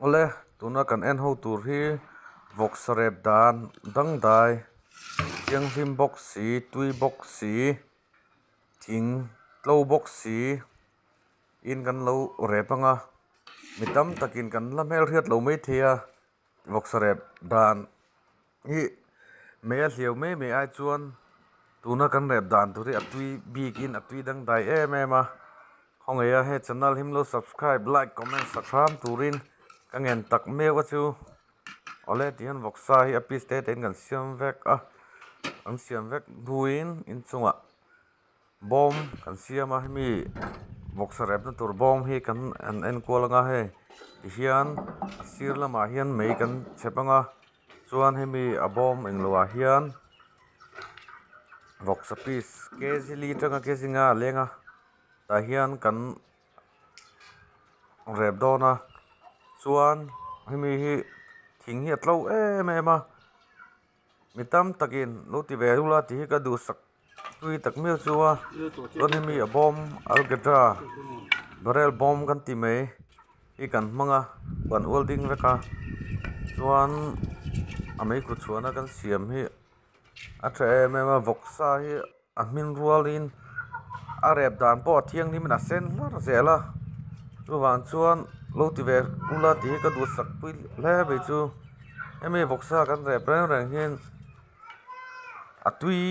Awle, tuna kan en ho tur hi vawksarep dan dangdai, thianghlim bawk si, tui bawk si, thing tlo bawk si in kan lo rep ang a, mi tam takin kan la hmel hriat lo maithei a, Ruksarep dan hi mei a hliau mai mai ai chuan tuna kan rep dan tur hi a tui bik in a tui dangdai em em a khawngaia hei channel him lo subscribe like comment sak hrâm turin ka ngen tak meuh a chu awle tih hian vawksa hi a piece te tein kan siam vek a an siam vek buin inchungah-- bawm kan siam a hemi bawksa repna tur bawm hi kan han enkual anga hei tihian a sir lamah hian mei kan chep anga chuan hemi a bawm englo ah hian bawksa piece K Z li atanga K zinga a leng a tah hian kan rep dawn a chuan hemi hi thing hi a tlo em em a. mi tam takin lo ti ve rula tih hi ka duhsak tui tak miau chu a chuan hemi a bawm algebra barrel bawm kan tih mai hi kan hmang a kan ual ding vek a chuan a mai kut chhuahna kan siam hi a tha em em a vawksa hi-- A hming rualin a rep dan pawh a thianghlim in a sen hlar zel a chuvang chuan lo ti ve ula tih hi ka duhsak pui hle a nih chu hemi vawk sa kan rep reng reng hian a tui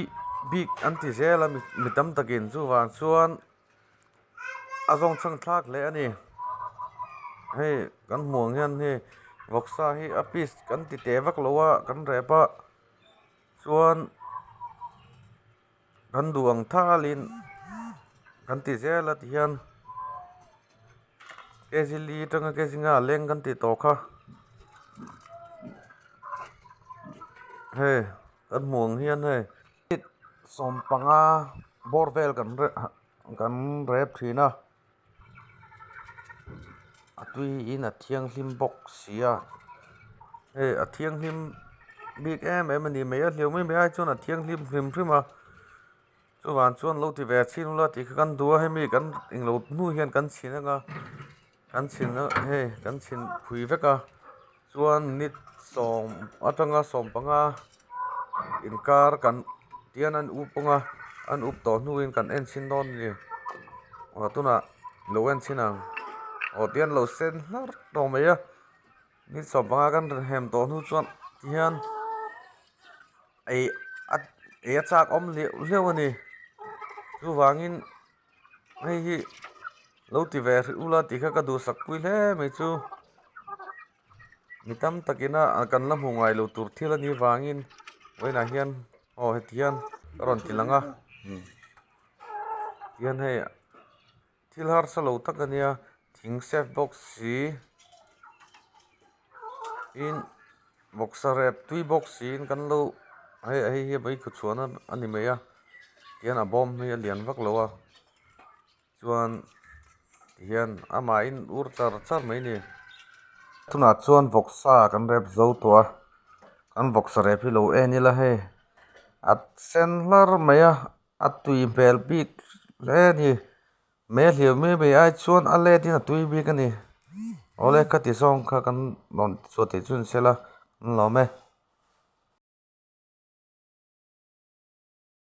bik an ti zel a mi tam takin chuvang chuan a zawng chhang thlak hle a ni hei kan hmuh ang hian hei vawk sa hi a peace kan ti teh vak lo a kan rep a. Chuan kan duh ang thalin kan ti zel a ti hian kg li atanga kg nga leng kan tih tawh kha hei kan hmuh ang hian hei sawmpanga bawr vel kan kan rep thin a. a tuiin a thianghlim bawk sia hei a thianghlim bik em em a nih hmel a hleuhmai mai ai chuan a thianghlim hrim hrim a chuvang chuan lo ti ve a chhing ula tihkha kan duh a hemi kan englo hnu hian kan chhin anga kan chhin hei kan chhin phui vek a. chuan minute sawm atanga sawm panga inkar kan tihian an up kawng a an up tawh hnuin kan enchhin dawn a ni aw tunah lo enchin ang aw tihian lo sen hlar tawh mai a minute sawm panga kan rawn hem tawh hnu chuan tihian ei a ei a chak awm leh hleuh a ni chuvangin-- hei hi lo ti ve hrih ula tih kha ka duhsak pui hle mai chu mi tam takin a kan la hmu ngai lo tur thil anih avangin vawiinah hian aw heti hian ka rawn ti langa tihian hei thil harsa lo tak ania thing safe bawk si. in boxer e tui box in kan lo hei a hei hi mai thut chhuah na a ni mai a tihian a bawm hi a lian vak lo a chuan tihian amah in ur char char mai a ni tunah chuan boxa kan rep zo tawh a kan boxer rep hi lo en ila hei a sen hlar mai a a tui hmel bik hle a ni. Me hlir mai mai ai chuan a let in a tui bik a ni. Awle ka ti zawng kha kan rawn ti chhuah theih chu an sel a, an lawm e.